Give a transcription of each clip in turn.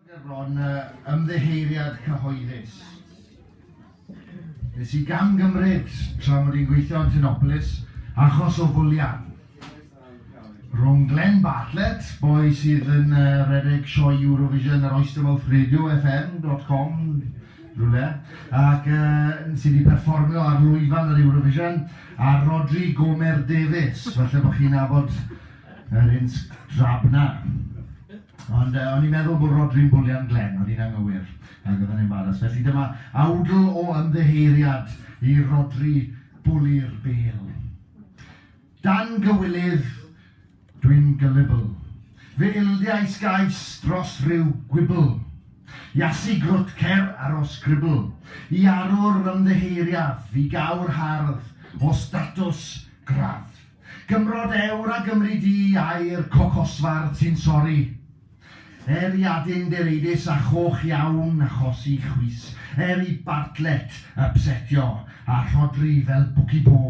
Mae bron â ymddiheuriad cyhoeddus. Nes i gamgymryd tra mod i'n gweithio yn Ffynopolis achos o fwlian rhwng Glenn Bartlett, boi sydd yn uh, redeg sioe Eurovision ar Oystermouth Radio FM.com rhywle, ac uh, sydd wedi perfformio ar lwyfan yr Eurovision, a Rodri Gomer Davies, falle bod chi'n nabod Yr un strab 'na. Ond yy o'n i'n meddwl bod Rhodri'n bwlian Glenn, o'n i'n anghywir, ac oedd e'n embaras. Felly dyma awdl o ymddiheuriad i Rhodri bwli'r bêl. Dan gywilydd, dwi'n gyllibl. Fy ildiais gais dros ryw gwibl. Iasu grwt cer ar ol sgribl. I arwr ymddiheuriaf, i gawr hardd, o statws gradd. Cymro dewr a Gymry du ai'r cocosfardd sy'n sori Er i Adin Dereidis a choch iawn achosi chwys Er i Bartlett ypsetio a Rhodri fel bwci bo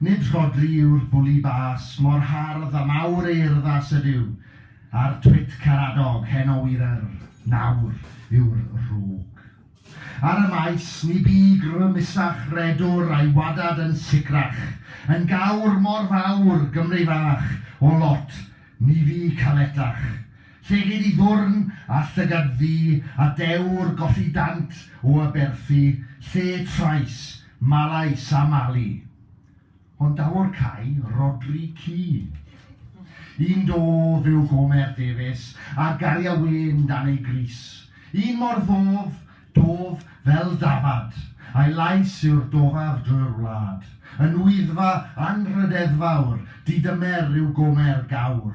Nid Rhodri yw'r bwli bas Mor hardd a mawr ei urddas ydyw A'r twit caradog heno wir Yr nawr yw'r rhwg Ar y maes, ni bu grymusach redwr a'i wadad yn sicrach, yn gawr mor fawr, Gymru fach, o lot, ni fu caletach. Llegid i ddwrn, a llygad ddu, a dewr golli dant o aberthu, lle trais, malais a malu. Ond daw'r cau, Rhodri Keane. Un dof yw Gomer Davies, a garia wên dan ei grys. Un mor ddof, dof fel dafad, a'i lais yw'r dofaf drwy'r wlad. Yn Wyddfa anrhydeddfawr, didymer yw Gomer Gawr.